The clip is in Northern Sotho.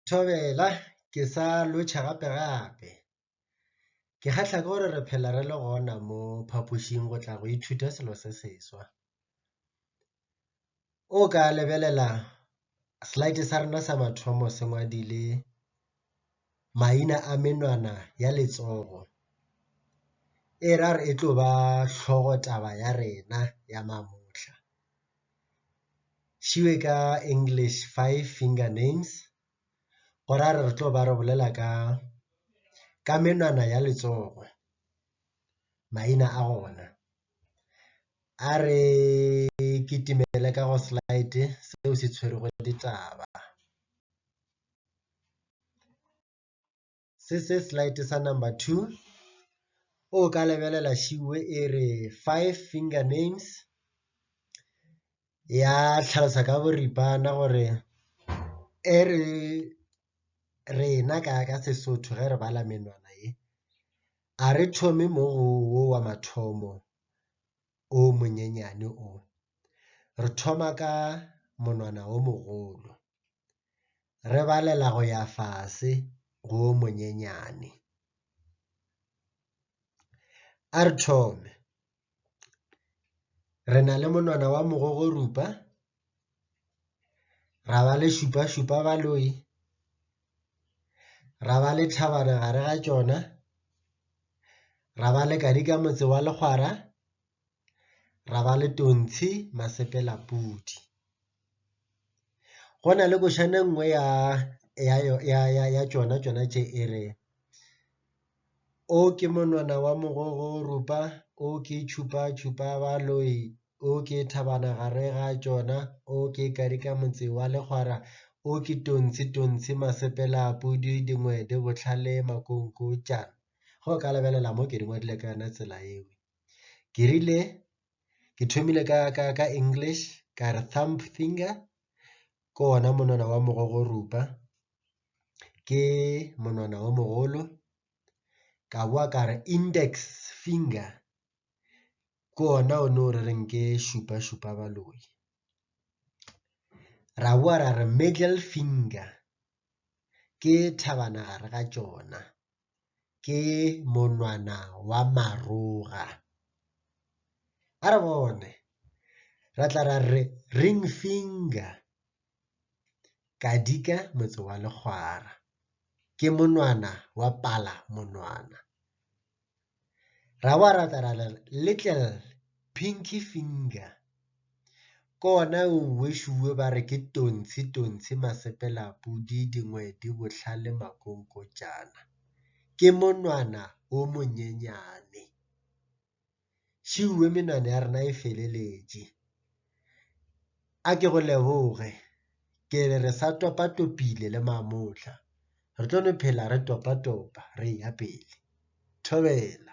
Thobela, ke sa lwetšha gape gape. Ke kgahla ke gore re phela re le gona mo phapošing go tla go ithuta selo se seswa. O ka lebelela slide sa rena sa mathomo se ngwadile. maina a menwana ya letsogo, e ra re e tlo ba hlogo taba ya rena ya mamohla. Šibe ka English five finger names, go ra re re tlo ba re bolela ka ka menwana ya letsogo, maina a ona. A re kitimele ka go slide seo se tshwerego ditaba. Se se slide sa number two, o ka lebelela šiwe e re five finger names ya tlhalosa ka boripana gore e re rena ka ka Sesotho ge re bala menwana ye, ga re thome mo go wo wa mathomo o monyenyane o, re thoma ka monwana o mogolo. re balela go ya fase go o monyenyane. A re thome. Re na le monwana wa mogogorupa, ra ba le šupašupa baloi, ra ba le thabana gare ga tšona, ra ba le kadi ka motse wa legwara, ra ba le Tontshi Masepela Pudi. Go na le košana e nngwe ya tšona tšona tše e re, O ke monwana wa mogogo o rupa, o ke tšhupa tšhupa baloi, o ke thabana gare ga tšona, o ke karika motse wa legwara, o ke Tontshi Tontshi Masepela Pudi dingwede bohlale makonkotšana. Ge o ka lebelela mo ke di ngwadile ka yona tsela eo. ke rile ke thomile ka ka ka English ka re thumb finger ke ona monwana wa mogogorupa ke monwana o mogolo ka boa ka re index finger ke ona o ne o re reng ke šupa šupa baloi ra boa ra re middle finger ke thabana gare ga tšona. ke monwana wa maroga. A re bone, ra tla ra re ring finger, Kadika motse wa legwara, ke monwana wa palamonwana. ra wa rapela little pinky finger kona o wešuwe ba re ke tontshe tontshe masepela pudi dingwe di bohlale makonkotšana ke monwana o monyenyane šuwe menwana ya rena e feleletše A ke go leboge, ke re re sa topatopile le mamohla, re tlo no phela re topatopa re eya pele. Thobela.